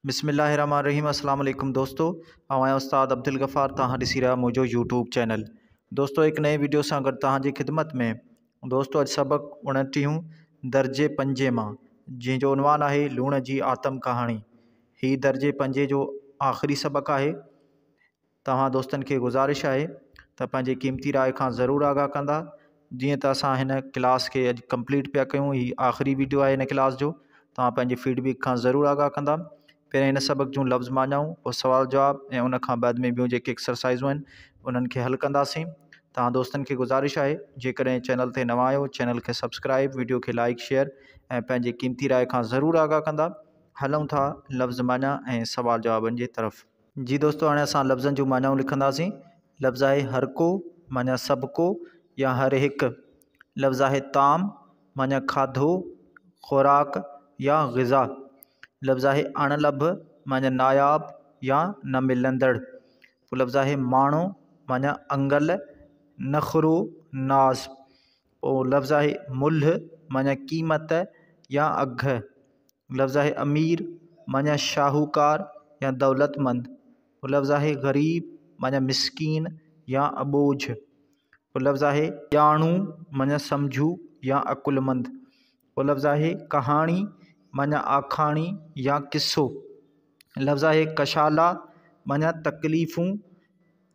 بسم الله الرحمٰن الرحيم اسلام عليڪم دوستو آئون آهيان استاد عبدالغفار توهان ڏسي رهيا آهيو منهنجو يوٽيوب چينل دوستو هڪ نئين ويڊيو سان گڏ توهان جي خدمت ۾ دوستو اڄ سبق اڻٽيهون درجي پنجين مان جنهن جو عنوان آهي لوڻ جي آتم ڪهاڻي هي درجي پنجين جو آخري سبق آهي توهان دوستن کي گذارش آهي ته پنهنجي قيمتي راء کان ضرور آگاهه ڪندا جيئن ته اسان هن ڪلاس کي اڄ ڪمپليٽ پيا ڪيون هي آخري ويڊيو آهي هن ڪلاس جو توهان پنهنجي فيڊ بيڪ کان ضرور آگاهه ڪندا پهرين هن سبق جون لفظ معنائون پوء سوال جواب ۽ ان کان بعد ۾ ٻيون جيڪي ايڪسرسائزون آهن انهن کي حل ڪنداسين توهان دوستن کي گذارش آهي جيڪڏهن چينل تي نوان آهيو چينل کي سبسڪرائب ويڊيو کي لائڪ شيئر ۽ پنهنجي قيمتي راء کان ضرور آگاهه ڪندا هلون ٿا لفظ معنيٰ ۽ سوال جوابن جي طرف جي دوستو هاڻي اسان لفظن جون معنائون لکنداسين لفظ آهي هر ڪو معنيٰ سڀ ڪو يا هر هڪ لفظ آهي طعام معنيٰ کاڌو خوراڪ يا غذا لفظ آهي اڻ لڀ معنيٰ ناياب يا نه ملندڙ لفظ آهي ماڻو معنيٰ انگل نخرو ناز پوء لفظ آهي ملهه معنيٰ قيمت يا اگهه، لفظ آهي امير معنيٰ شاهوڪار يا دولتمند، پوء لفظ آهي غريب معنيٰ مسڪين يا اٻوجهه، پوء لفظ آهي ڄاڻو معنيٰ سمجهو يا عقلمند، پوء لفظ آهي ڪهاڻي معنيٰ آکاڻي يا قصو، لفظ آهي ڪشالا معنيٰ تڪليفون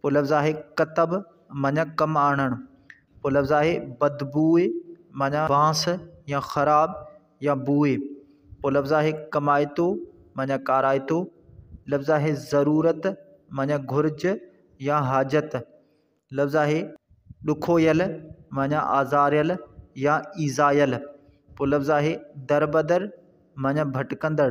پوء لفظ آهي ڪتب معنيٰ ڪم آڻڻ، پوء لفظ آهي بدبوء معنيٰ بانس يا خراب يا بوء، پوء لفظ آهي ڪمائتو معنيٰ ڪارائتو، لفظ آهي ضرورت معنيٰ گهرج يا حاجت، لفظ آهي ڏکويل معنيٰ آزاريل يا ايذايل، پوء لفظ آهي دربدر معنيٰ ڀٽڪندڙ،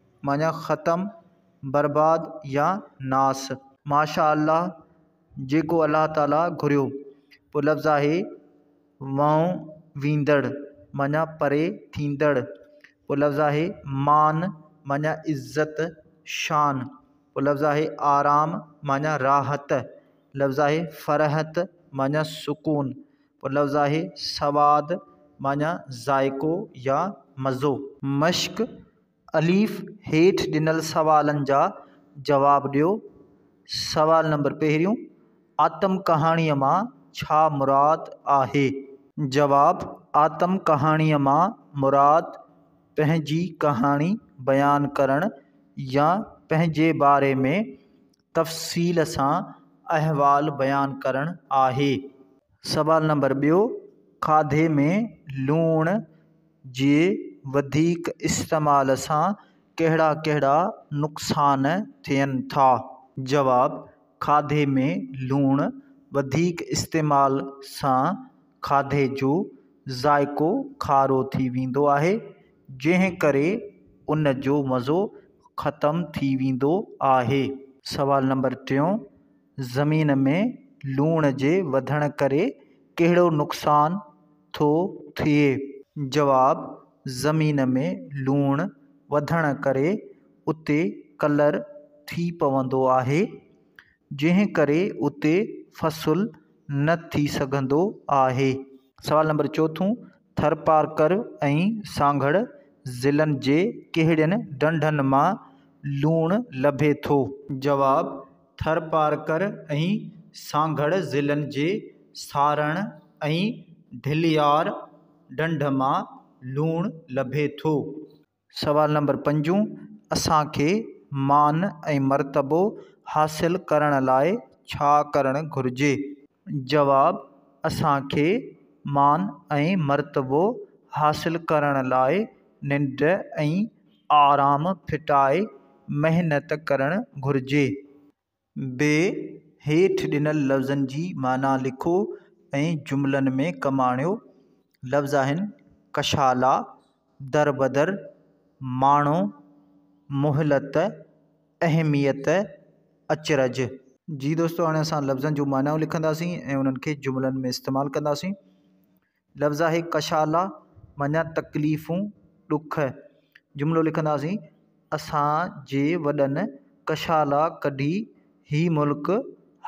معنيٰ ختم، برباد يا ناس. ماشاء الله جيڪو الله تعالي گهريو. پوء لفظ آهي وئون ويندڙ معنيٰ پري ٿيندڙ. پوء لفظ آهي مان معنيٰ عزت، شان. پوء لفظ آهي آرام معنيٰ راحت. لفظ آهي فرحت معنيٰ سڪون. پوء لفظ آهي سواد معنيٰ ذائقو يا مزو. مشڪ الف، هيٺ ڏنل سوالن جا جواب ڏيو. سوال نمبر پهريون، آتم ڪهاڻيء مان ڇا مراد آهي؟ جواب، آتم ڪهاڻيء مان مراد پنهنجي ڪهاڻي بيان ڪرڻ يا پنهنجي باري ۾ تفصيل سان احوال بيان ڪرڻ آهي. سوال نمبر ٻيو، کاڌي ۾ لوڻ جي وڌيڪ استعمال سان ڪهڙا ڪهڙا نقصان ٿين ٿا؟ جواب، کاڌي ۾ لوڻ وڌيڪ استعمال سان کاڌي جو ذائقو کارو ٿي ويندو آهي، جنهن ڪري ان جو مزو ختم ٿي ويندو آهي. سوال نمبر ٽيون، زمين ۾ لوڻ جي وڌڻ ڪري ڪهڙو نقصان ٿو ٿئي؟ جواب، زمين ۾ لوڻ وڌڻ ڪري اتي ڪلر ٿي پوندو آهي، جنهن ڪري اتي فصل نه ٿي سگهندو آهي. سوال نمبر چوٿون، ٿرپارڪر ۽ سانگهڙ ضلعن جي ڪهڙين ڍنڍن مان لوڻ لڀي ٿو؟ جواب، ٿرپارڪر ۽ سانگهڙ ضلعن جي سارڻ ۽ ڍليار ڍنڍ مان لوڻ لڀي ٿو. سوال نمبر پنجون، اسان کي مان ۽ مرتبو حاصل ڪرڻ لاء ڇا ڪرڻ گهرجي؟ جواب، اسان کي مان ۽ مرتبو حاصل ڪرڻ لاء ننڊ ۽ آرام ڦٽائي محنت ڪرڻ گهرجي. ب هيٺ ڏنل لفظن جي معنيٰ لکو ۽ جملن ۾ ڪم آڻيو. لفظ آهن، ڪشالا، دربدر، ماڻهو، مهلت، اهميت، اچرج. جي دوستو هاڻي اسان لفظن جون معنائون لکنداسين ۽ انهن کي جملن ۾ استعمال ڪنداسين. لفظ آهي ڪشالا معنيٰ تڪليفون، ڏک. جملو لکنداسين، اسان جي وڏن ڪشالا ڪڍي هي ملڪ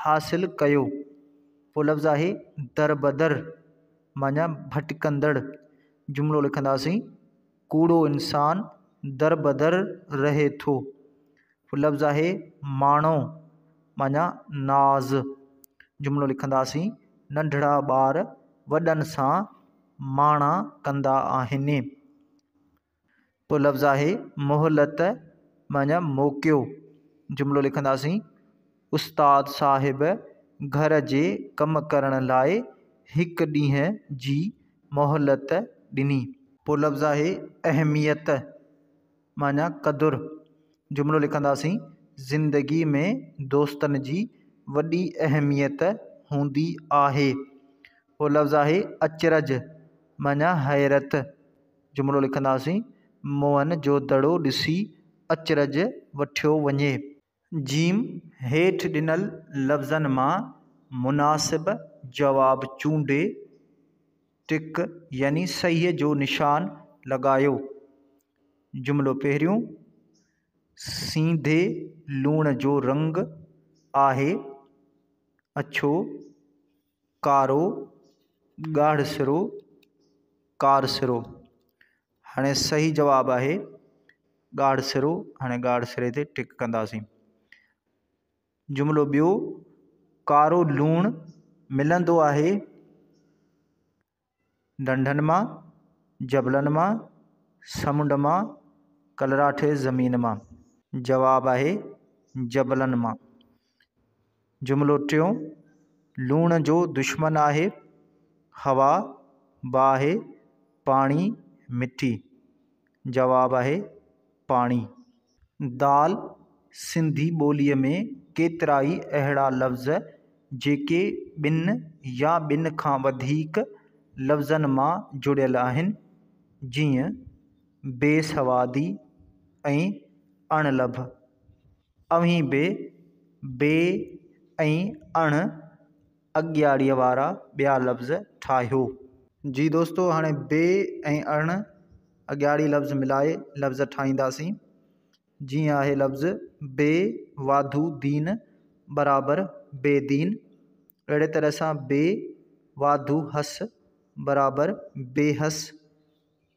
حاصل ڪيو. پوء لفظ آهي دربدر معنيٰ ڀٽڪندڙ. جملو لکنداسين، ڪوڙو انسان دربدر رهي ٿو. لفظ آهي ماڻو معنيٰ ناز جملو لکنداسين، ننڍڙا ٻار وڏن سان ماڻا ڪندا آهن. پوء لفظ آهي مهلت معنيٰ موقعو جملو لکنداسين، استاد صاحب گهر جي ڪم ڪرڻ لاء هڪ ڏينهن جي مهلت ڏني. پوء لفظ آهي اهميت معنيٰ قدر جملو لکنداسين، زندگي ۾ دوستن جي وڏي اهميت هوندي آهي. ٻيو لفظ آهي اچرج معنيٰ حيرت جملو لکنداسين، موهن جو دڙو ڏسي اچرج وٺيو وڃي. جيم، هيٺ ڏنل لفظن مان مناسب جواب چونڊي ٽڪ يعني صحيح جو نشان لڳايو. جملو پهريون، سينڌي لوڻ جو رنگ آهي اڇو، ڪارو، ڳاڙهسرو، ڪارسرو. هاڻي صحيح جواب آهي ڳاڙهه سرو. هاڻي ڳاڙهه سري تي ٽڪ ڪنداسين. جملو ٻيو، ڪارو لوڻ ملندو آهي ڍنڍن مان، جبلن مان، سمنڊ مان، ڪلراٺي زمين مان. جواب آهي جبلن مان. جملو ٽيون، لوڻ جو دشمن آهي، هوا، باهه، پاڻي، مٺي. جواب آهي، پاڻي. دال، سنڌي ٻوليء ۾ ڪيترائي اهڙا لفظ جيڪي ٻن يا ٻن کان وڌيڪ لفظن مان جڙيل آهن، جيئن، بي سوادي ۽ اڻ لڀ. اوهين به بي ۽ اڻ اڳياڙيء وارا ٻيا لفظ ٺاهيو. جي دوستو هاڻي بي ۽ اڻ اڳياڙي لفظ ملائي لفظ ٺاهينداسين. جيئن آهي لفظ بي واڌو دين برابر بي دين، اهڙي طرح سان بي واڌو حس برابر بي حس.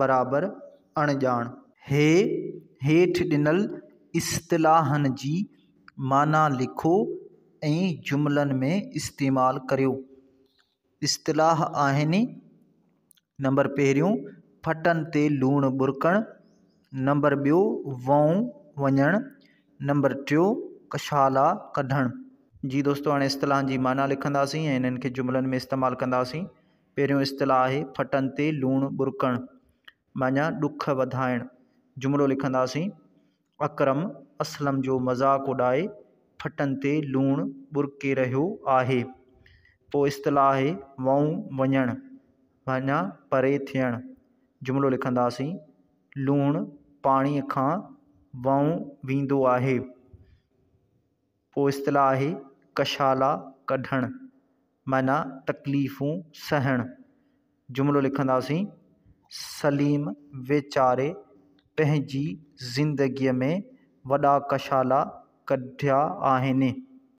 برابر اڻڄاڻ. هي هيٺ ڏنل اصطلاحن جي معنيٰ لکو ۽ جملن ۾ استعمال ڪريو. اصطلاح آهن، نمبر پهريون، ڦٽن تي لوڻ ٻرڪڻ، نمبر ٻيو، وئون وڃڻ، نمبر ٽيون، ڪشالا ڪڍڻ. جي دوستو هاڻي اصطلاحن جي معنيٰ لکنداسين ۽ انهن کي جملن ۾ استعمال ڪنداسين. پهريون اصطلاح آهي ڦٽن تي لوڻ ٻرڪڻ معنيٰ ڏک وڌائڻ. جملو لکنداسين، اڪرم اسلم جو مذاق اڏائي ڦٽن تي لوڻ ٻرڪي رهيو آهي. پوء اصطلاح آهي وئون وڃڻ معنيٰ پري ٿيڻ. جملو لکنداسين، لوڻ پاڻيء کان وئون ويندو آهي. پوء اصطلاح آهي ڪشالا ڪڍڻ معنيٰ تڪليفون سهڻ. جملو لکنداسين، سليم ويچاري پنهنجي زندگيء ۾ وڏا ڪشالا ڪڍيا آهن.